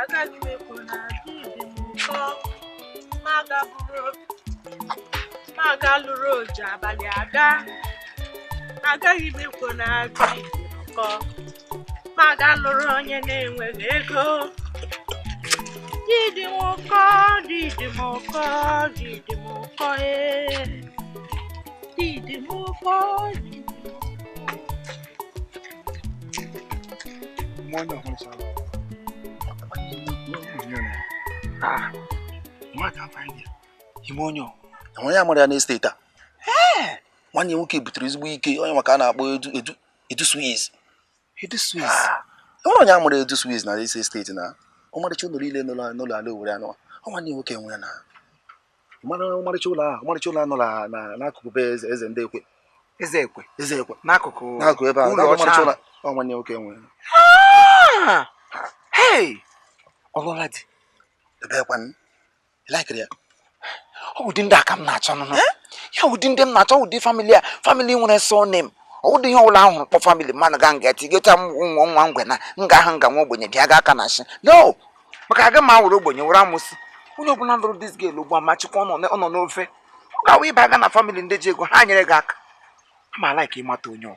agaghị m ekwu na di dị m ụkọ ma gaburu ma ga lụrụ oji abalị aga agaghị m ekwu na di dị m ụkọ ma ga lụrụ onye na-enweghị ego di dị m ụkọ di dị m ụkọ di dị m ụkọ ee di dị m ụkọ di dị m Mwana hon sa. Ah. Mwana find ya. Ị ma onye ọ. Onye amara ya na state a. Nwanne nwoke butere ezigbo ike onye maka a na-akpọ edu edu Edu Swiss. Edu Swiss. Ah, e nwere onye amara Edu Swiss na this state na ọmarịcha ụlọ niile n'ụlọ ala Owerri a nọ ọ nwanne nwoke nwe ya na mara ọmarịcha ụlọ ahụ ọmarịcha ụlọ a nọ n'akụkụ be eze eze ndị ekwe eze ekwe eze ekwe n'akụkụ n'akụkụ ebe ahụ ọmarịcha ụlọ ọ nwanne nwoke nwe ya ah! ọ lụọla di ebee kwanụ ị likiri ya ọ wụ ụdị ndị a ka m na-achọ nụnụ eh? ya ụdị ndị m na-achọ ụdị family a family nwere surname ọ ụdị ihe ọbụla a hụrụ kpọọ family mmadụ ga nga tigeta m nwa nwa ngwe na nga ahụ nga nwa ogbenye bịa ga aka na shi no maka aga m awụrụ ogbenye wụrụ amụsị onye ọbụla lụrụ this girl ugbu a ma chịkwa ọ nọ n'ofe ọ ga-awụ ịba aga na family ndị ji ego ha nyere gị aka ama alike ịmata onye ọ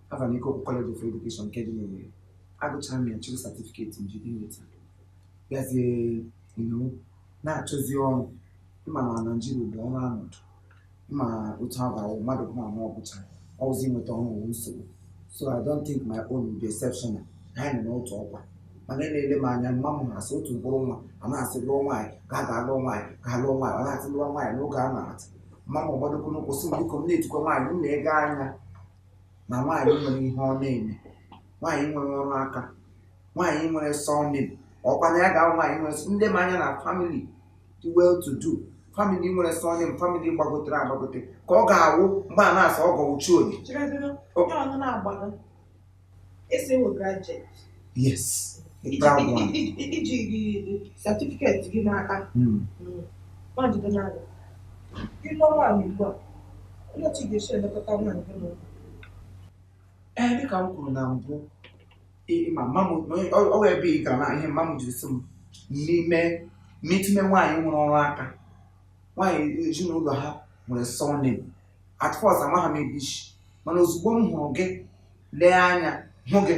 Alvan Ikoku College of Education nke dị n'Owerri agụchara m ya chịrị certificate m jide nweta bịazie inu na-achọzi ọrụ ị ma na Nigeria bụ ọrụ anọdụ ị ma otu ha ga-awụ mmadụ bụ na ọ gụchara ọ wụzi inweta ọrụ wụ nsogbu so I don't think my own will be exceptional na anyị nọ n'otu ọkwa mana na-ele m anya mma m na-asị otu mkpụrụ nwa a na-asị lụọ nwaanyị ka a ga-alụọ nwaanyị ka a lụọ nwaanyị ọ na-asị lụọ nwaanyị n'oge a na-atụ mma m ọ gbadokwa ụkwụ sị m biko m na-etikwa nwaanyị m na-elega anya na nwaanyị nwere ihe ọ na-eme nwaanyị nwere ọrụ aka nwaanyị nwere surname ọkwa na ya ga-awụ nwaanyị nwere ndị ma anya na family dị well to do family nwere surname family gbagotere agbagote ka ọ ga-awụ mgbe a na-asị ọgọ wụ chi onye Cherezienụ, onye ọnụ na-agbago. Ị sị ị wụ graduate. yes ị ji certificate gị n'aka hmm. hmm. nwaanyị n'ala ị lụọ nwaanyị ugbu a olee otu ị ga-esi elekọta nwaanyị gị n'ụlọ ee dịka m kwuru na mbụ ma mma m ọ ebe ị gara na ihe mma m jiri sị m n'ime n'itinye nwaanyị nwere ọrụ aka nwaanyị ezinụlọ ha nwere surname at first amaghị m ebe i si mana ozugbo m hụrụ gị lee anya hụ gị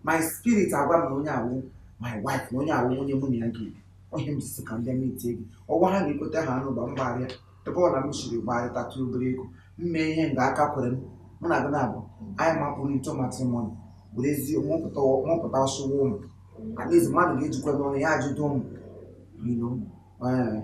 my spirit agwa m na onye a wụ my wife na onye a wụ onye mụ na ya ga-ebi ihe m ji sị ka ndị mitie gị ọgwa ha na i kweta ha anụ ba m gbarịa ebe ọ na m siri gbarịtatụ obere ego m mee ihe nga aka kwere m mụ na gị na-abụ anyị mapụrụ into matrimony were ezi mụpụta mụpụta ọsụwa ụmụ at least mmadụ ga-ejikwa n'ọnụ ya ajụta ụmụ you know, eh,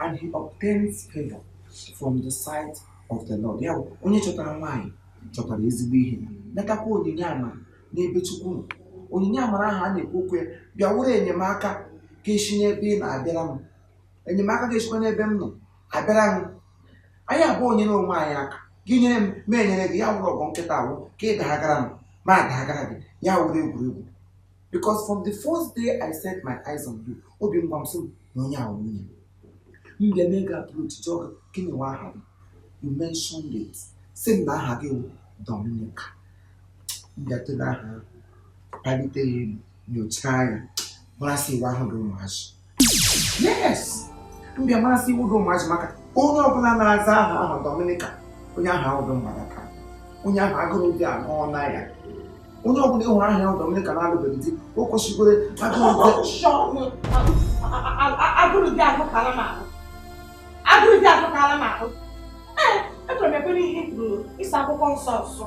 and he obtains favor from the sight of the Lord. Ya bụ onye chọtara nwaanyị chọtara ezigbo ihe natakwa onyinye amara n'ebe Chukwu nọ. Onyinye amara ahụ a na-ekwu okwu ya bịa wụrụ enyemaka ga-esi n'ebe ị nọ abịara m enyemaka ga-esikwa n'ebe m nọ abịara m anyị abụọ nyere onwe anyị aka gị nyere m mụ enyere gị ya wụrụ ọgụ nkịta a wụ ka ị dagara m mụ adagara gị ya wụrụ egwuregwu because from the first day I set my eyes on you obi m gwa m sị na onye a wụ nwunye m bịa mee gị approach jụọ gị gịnị wụ aha gị you mentioned it sị m na aha gị wụ Dominica m bịa tụrụ aha palite ya elu nyochaa ya mara sị ihe a wụghị ụmụazị yes m bịa ma sị ị wụghị ụmụazị maka onye ọbụla na-aza aha ahụ Dominica onye ahụ ahụ dị mgbadaka onye ahụ agụrụ di anọ na ya onye ọbụla ị hụrụ aha ya Dominica na-alụbeghị di o kwesịkwere agụrụ di agụrụ di agụkala m ahụ agụrụ di agụkala m ahụ ee echọrọ m ekwere ihe kwuru ịsa akwụkwọ nsọ nsọ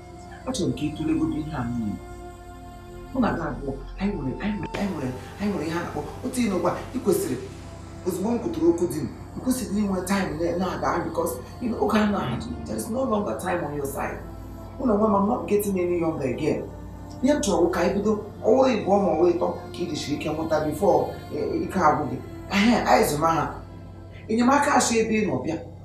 achọrọ m ka ị tụlegodo ihe a niile mụ na gị abụọ anyị nwere ihe a na-akpọ otu ihe n'ụgba ị kwesịrị ozugbo m kwutụrụ okwu di m ị kwesịrị inwe time na-aga because oge a na-ahụ there is no longer time on your side mụ na onwe m I'm not getting any younger again ihe m chọrọ ka anyị bido ọ wụrụ ịbụọ ma ọ wụrụ ịtọ ka ị jisiri ike mụta before ike agwụ gị anyị zụma ha enyemaka esi ebe ị nọ bịa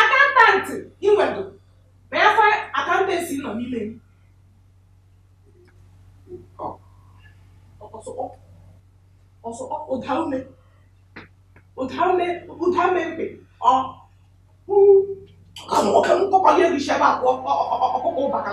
accountant ị nwere na ya fa accountancy nọ n'ime m ọsọ ụda ume ụda ume ụda ume mkpe ọ ka m kọkọ ihe gị shebe akwa ọkụkọ ụbaka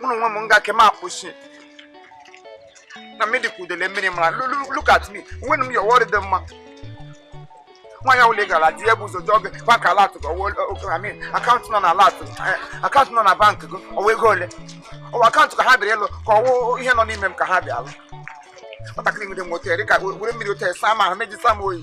mụ na onwe m nga ke m akwụsị na mmiri ka udele mmiri mara Lu- lu- look at me nwere m ya ọwọrị dị mma nwaanyị ọbụla ị gara di ya bụ ụzọ jụọ gị bank alert gị ọ wụ account nọ na alert account nọ na bank gị ọ wụ ego ole ọ wụ account ka ha bịara ịlụ ka ọ wụ ihe nọ n'ime m ka ha bịa alụ nwatakịrị nwere m otere ka were mmiri otere saa m ahụ meji saa m oyi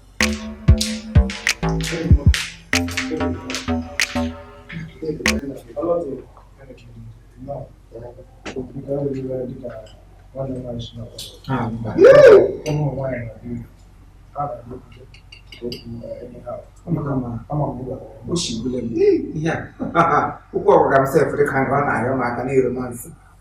ihe a ụkwụ ọgwụga m sef dịka nke ọ na-arịọ m aka na-ero mansị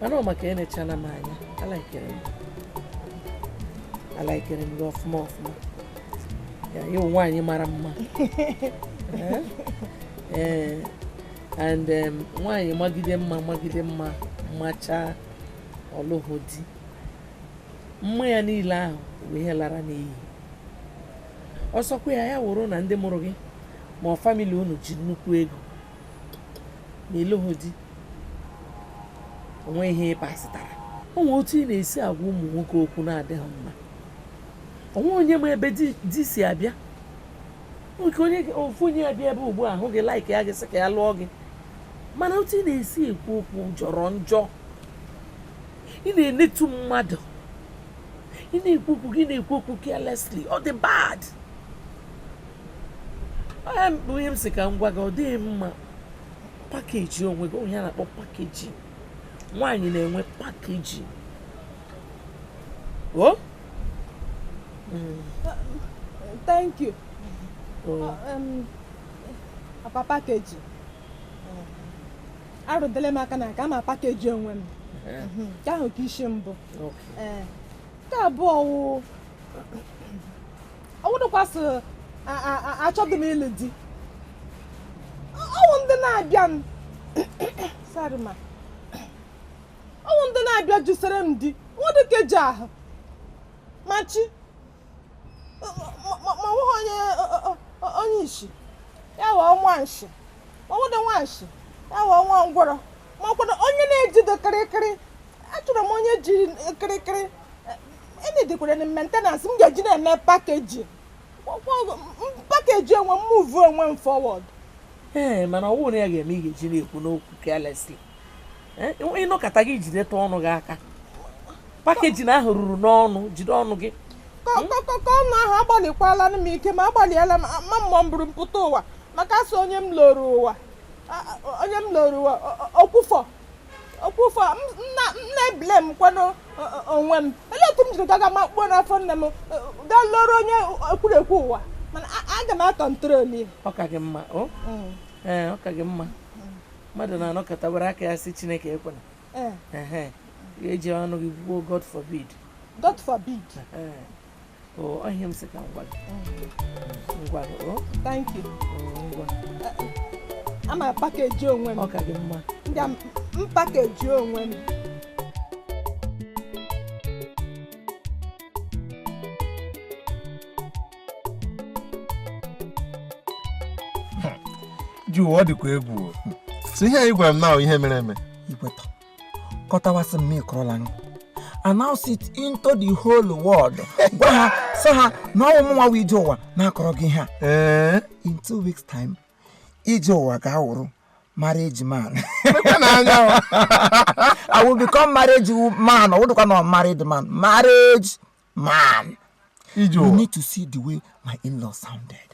mana ọ maka enechana m anya alaikere m alaikere m gị ọfụma ọfụma ya ị wụ nwaanyị mara mma Eh? Eh, and em, nwaanyị magide mma magide mma machaa ọ lụhụ di mma ya niile ahụ wụ ihe lara n'iyi ọ sọkwa ya ya wụrụ na ndị mụrụ gị ma ọ family unu ji nnukwu ego ma ị lụhụ di o nwe ihe ị pasịtara o nwee otu ị na-esi agwa ụmụ nwoke okwu na-adịghị mma o nweghị onye ma ebe di si abịa ofu onye abịa ebe ugbu a hụ gị laikịa gị sị ka ya lụọ gị mana otu ị na-esi ekwu okwu jọrọ njọ ị na-enetu mmadụ ị na-ekwu okwu gị na-ekwu okwu carelessly ọ dị bad ọ ihe m sị ka m gwa gị ọ dịghị mma pakeji onwe gị o nwe ihe a na-akpọ pakeji nwaanyị na-enwe pakeji o oh? mm. thank you oh. uh, um, papa pakeji arụdele m aka na aga m apakeji onwe m eh. mhm. nke ahụ ka isi mbụ eh, nke abụọ wụ ọ wụdụkwa sị achọghị m ịlụ di ọ wụ ndị na-abịa m sorry ma ọ wụ ndị na-abịa jụsere m di o nwedị nke ji how much ma ọ wụghị onye isi ya wụọ nwa nshi ma ọ wụdị nwa nshi ya wụọ nwa ngwọrọ ma ọ kwanụ onye na-ejidị kịrịkịrị achọrọ m onye ji kịrịkịrị enidikwara m maintenance m ga-eji na-eme pakeji pakeji onwe m move onwe m forward ee mana ọ wụrụ na ya ga-eme ị gaghị na-ekwunụ okwu carelessly ị nọkata gị jideta ọnụ gị aka pakeji na ahụ ruru n'ọnụ jide ọnụ gị ka ọnụ ahụ agbalịkwala m ike m agbalịela m ma ọ mburu mpụta ụwa maka a sị onye m lọrọ ụwa onye m lọrọ ụwa okwufọ okwu ụfọ na-eblem kwanụ onwe m olee otu m jiri gaga makpuo n'afọ nne m gaa lọọrọ onye ekwurekwu ụwa mana aga m akọntrol ya ọ ka gị mma ọ mm. ka gị mma mmadụ na-anọkata were aka ya sị chineke ekwena eji ọnụ gị kwuo god forbid god forbid ama pakeji onwe m m pakeji onwe m ije ụwa ọ dịkwa egwu so ihe a ị gwara m na ihe mere eme kọtawasị m ịkọrọla m announce it into the whole world gwa ha sị ha na ọ wụ mụnwa ije ụwa na-akọrọ gị ihe a eh? in two weeks time ije ụwa ga-awụrụ marriage man I will become marriage man ọ wụdụkwa na married man marriage man you need to see the way my in-law sounded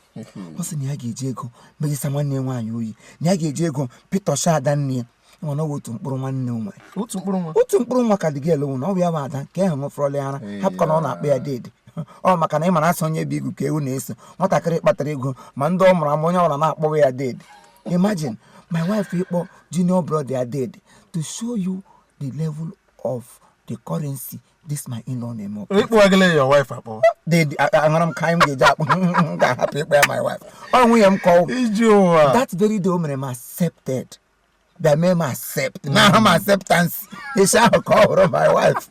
ọ sị na ya ga-eji ego mejisa nwanne ya nwaanyị oyi na ya ga-eji ego pịtọcha ada nne ya nwa na otu mkpụrụ nwanne nwa otu mkpụrụ nwa otu mkpụrụ nwa ka dị gị elewu na ọ bụ ya bụ ada nke ahụ ṅụfọrọla ya ara hapụkwa na ọ na-akpọ ya deede ọ maka na ị mara a sị onye bu igu ka ewu na-eso nwatakịrị kpatara ego ma ndị ọ mụrụ ama onye ọbụla na-akpọwa ya deede imagine my wife ịkpọ junior brother ya deede to show you the level of the currency this my in-law na-eme ọkụ ị kpọgala ya wife akpọ deede aṅara m ka anyị m ga-eji akpọ m ga-ahapụ ịkpọ ya my wife ọ nwunye m ka ọ ije ụwa that very day o mere m accepted bịa mee m accept na aha m acceptance isi ahụ ka ọ hụrụ my wife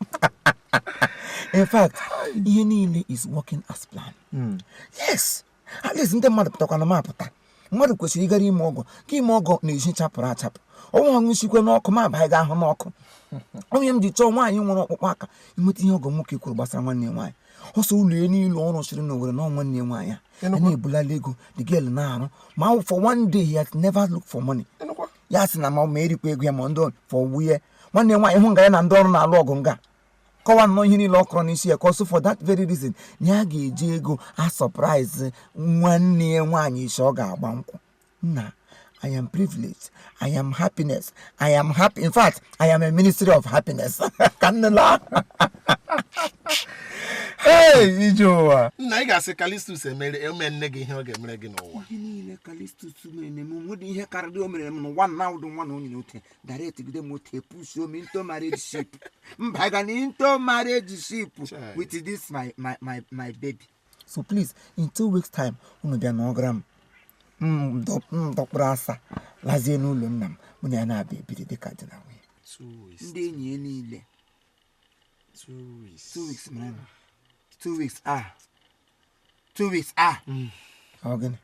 in fact ihe niile is working as planned hmm. yes at least ndị mmadụ pụtakwanụ m apụta mmadụ kwesịrị ịgara ime ọgọ ka ime ọgọ na-esi chapụrụ achapụ ọnwa ọṅụ sikwe n'ọkụ ma abaghị ga ahụ n'ọkụ onye m ji chọọ nwaanyị nwere ọkpụkpụ aka ịnweta ihe ọgọ nwoke kwuru gbasara nwanne ya nwaanyị ọ sị ụlọ ya niile ọ rụsịrị n'Owere na nwanne ya nwaanyị a a na-ebulala ego the girl na-arụ ma for one day he has never look for money ya sị na ma ma erikwa ego ya ma ndị for wuye nwanne ya nwaanyị hụ nga ya na ndị ọrụ na-alụ ọgụ nga kọwa nnọọ ihe niile ọ kọrọ n'isi ya ka ọ sị for that very reason na ya ga-eji ego a-surprise nwanne ya nwaanyị isi ọ ga-agba nkwụ nna I am privileged. I am happiness. I am happy. In fact, I am a ministry of happiness. ka nne laa ee ije ụwa nna ị ga-asị kalistus emere eme nne gị ihe ọ ga-emere gị n'ụwa ihe niile kalistus na-eme m nwedị ihe karịrị o mere m n'ụwa na ụdị nwa na onye n'otu direct gide moto e-push m into marriage ship mba ga na into marriage ship Chai. with this my my my my baby so please in two weeks time unu bịa n'ọgara m m dọ- m dọkpụrụ asa lazie n'ụlọ nna m mụ na ya na-abịa ebiri dịka di na nwunye two weeks ndị enyi ya niile two weeks two weeks mara na two weeks ah two weeks ah hmm. gịnị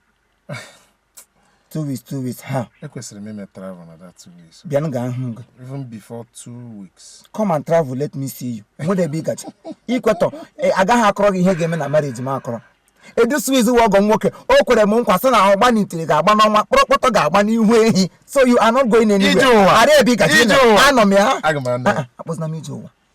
two weeks two weeks ha ekwesịrị m ime travel na that two weeks bịa m ga ahụ gị even before two weeks come and travel let me see you nwede ebe ị ga-eje ikwetọ e, agaghị akọrọ gị ihe ga-eme na marriage m akọrọ edu swiss wa ọgọ nwoke o kwere m nkwa sị na ọgba n'itiri ga-agba n'ọnwa kpọrọkpọtọ ga-agba n'ihu ehi so you are not going anywhere ara ebe ị ga-eje anọ m ya ah, ah, akpụzina m ije ụwa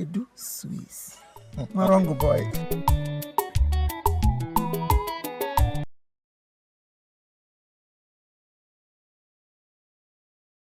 edu swiss nwa wrong boy